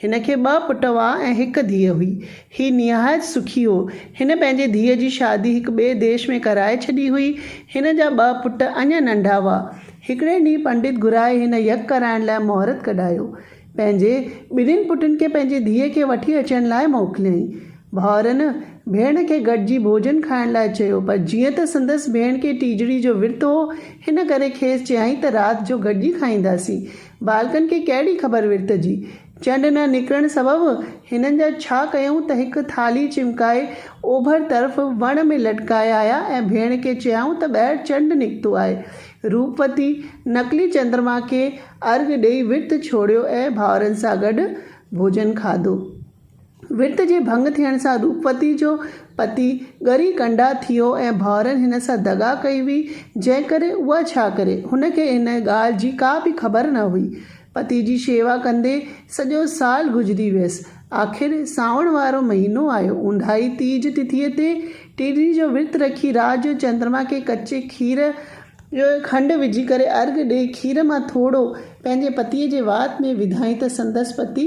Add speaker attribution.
Speaker 1: هن کي ٻه پٽ هئا ۽ هڪ ڌيء هئي. هي نهايت سکي هو. هن پنهنجي ڌيء جي شادي هڪ ٻئي ديش ۾ ڪرائي ڇڏي هئي. هن جا ٻه پٽ اڃا ننڍا هئا. هڪڙي ڏينهن پنڊت گهرائي هن يگ ڪرائڻ لاء مهورت ڪڍايو. پنهنجي ٻنهين پٽن کي پنهنجي ڌيء کي وٺي اچڻ لاء موڪليائين. ڀائرن ڀيڻ کي گڏجي ڀوڄن کائڻ لاء چيو، پر جيئن ته سندس ڀيڻ کي ٽيجڙي جو ورت هو، هن ڪري کيس چيائين ته رات جو گڏجي کائينداسين. ٻالڪن کي ڪهڙي خبر ورت جي؟ چنڊ نه نڪرڻ سبب هنن جا ڇا ڪيائون ته هڪ ٿالهي چمڪائي اوڀر طرف وڻ ۾ لٽڪائي آيا ۽ ڀيڻ کي چيائون ته ٻاهر چنڊ نڪتو آهي. روپوتي نقلي چندرما کي ارگهه ڏيئي ورت ڇوڙيو ۽ ڀائرن سان گڏ ڀوڄن کاڌو. وت جي ڀڱ ٿيڻ سان روپوتي جو پتي ڳري ڪنڊا ٿيو ۽ ڀائرن هن سان دغا ڪئي هئي، جنهن ڪري اها ڇا ڪري؟ هن کي ان ڳالهه جي ڪا به خبر نه هئي. پتي جي شيوا ڪندي سڄو سال گذري ويس. آخر سانوڻ وارو مهينو آيو. اونداهي تيج تٿيء تي ٽيڏي جو ورت رکي رات جو چندرما کي ڪچي کير ۾ کنڊ وجهي ڪري ارگهه ڏئي کير مان ٿورو پنهنجي پتيء جي وات ۾ وڌائين ته سندس پتي